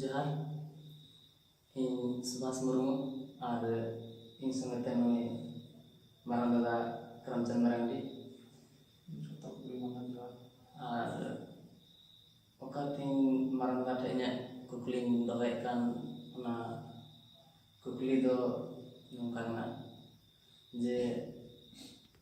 ᱡᱚᱦᱟᱨ ᱤᱧ ᱥᱩᱵᱷᱟᱥ ᱢᱩᱨᱢᱩ ᱟᱨ ᱤᱧ ᱥᱚᱸᱜᱮ ᱛᱮ ᱱᱩᱭ ᱢᱟᱨᱟᱝ ᱫᱟᱫᱟ ᱨᱟᱢᱪᱟᱸᱫᱽ ᱢᱟᱨᱟᱱᱰᱤ ᱡᱚᱛᱚ ᱠᱚᱜᱮ ᱢᱟᱱᱟᱣ ᱡᱚᱦᱟᱨ ᱟᱨ ᱚᱠᱟ ᱛᱤᱧ ᱢᱟᱨᱟᱝ ᱫᱟᱫᱟ ᱴᱷᱮᱱ ᱤᱧᱟᱹᱜ ᱠᱩᱠᱞᱤᱧ ᱫᱚᱦᱚᱭᱮᱫ ᱠᱟᱱ ᱚᱱᱟ ᱠᱩᱠᱞᱤ ᱫᱚ ᱱᱚᱝᱠᱟ ᱠᱟᱱᱟ ᱡᱮ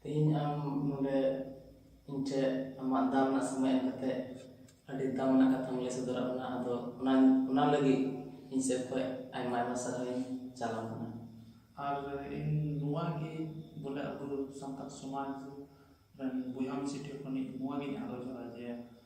ᱛᱮᱦᱮᱧ ᱟᱢ ᱱᱚᱰᱮ ᱤᱧ ᱴᱷᱮᱱ ᱟᱢᱟᱜ ᱫᱟᱢᱟᱱᱟᱜ ᱥᱚᱢᱚᱭ ᱮᱢ ᱠᱟᱛᱮ ᱟᱹᱰᱤ ᱫᱟᱢᱟᱱᱟᱜ ᱠᱟᱛᱷᱟᱢ ᱞᱟᱹᱭ ᱥᱚᱫᱚᱨᱟᱜ ᱵᱚᱱᱟ ᱟᱫᱚ ᱚᱱᱟ ᱚᱱᱟ ᱞᱟᱹᱜᱤᱫ ᱤᱧ ᱥᱮᱫ ᱠᱷᱚᱱ ᱟᱭᱢᱟ ᱟᱭᱢᱟ ᱥᱟᱨᱦᱟᱣ ᱤᱧ ᱪᱟᱞ ᱟᱢ ᱠᱟᱱᱟ ᱟᱨ ᱤᱧ ᱱᱚᱣᱟ ᱜᱮ ᱵᱚᱞᱮ ᱟᱵᱚ ᱥᱟᱱᱛᱟᱲ ᱥᱚᱢᱟᱡᱽ ᱨᱮᱱ ᱵᱚᱭᱦᱟ ᱢᱤᱥᱤ ᱴᱷᱮᱱ ᱠᱷᱚᱱ ᱤᱧ ᱱᱚᱣᱟ ᱜᱮᱧ ᱟᱨᱫᱟᱥᱚᱜᱼᱟ ᱡᱮ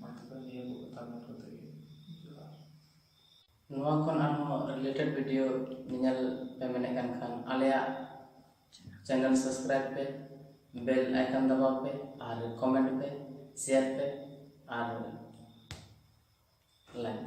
ᱢᱟ ᱛᱚᱵᱮ ᱱᱤᱭᱟᱹ ᱠᱚ ᱠᱟᱛᱷᱟ ᱢᱮᱱ ᱠᱟᱛᱮ ᱜᱮ ᱡᱚᱦᱟᱨ ᱱᱚᱣᱟ ᱠᱷᱚᱱ ᱟᱨᱦᱚᱸ ᱨᱤᱞᱮᱴᱮᱰ ᱵᱷᱤᱰᱤᱭᱳ ᱧᱮᱧᱮᱞ ᱯᱮ ᱢᱮᱱᱮᱫ ᱠᱟᱱ ᱠᱷᱟᱱ ᱟᱞᱮᱭᱟᱜ ᱪᱮᱱᱮᱞ ᱥᱟᱵᱥᱠᱨᱟᱭᱤᱵ ᱯᱮ ᱵᱮᱞ ᱟᱭᱠᱚᱱ ᱫᱟᱵᱟᱣ ᱯᱮ ᱟᱨ ᱠᱚᱢᱮᱱᱴ ᱯᱮ ᱥᱮᱭᱟᱨ ᱯᱮ ᱟᱨ ᱞᱟᱭᱤᱠ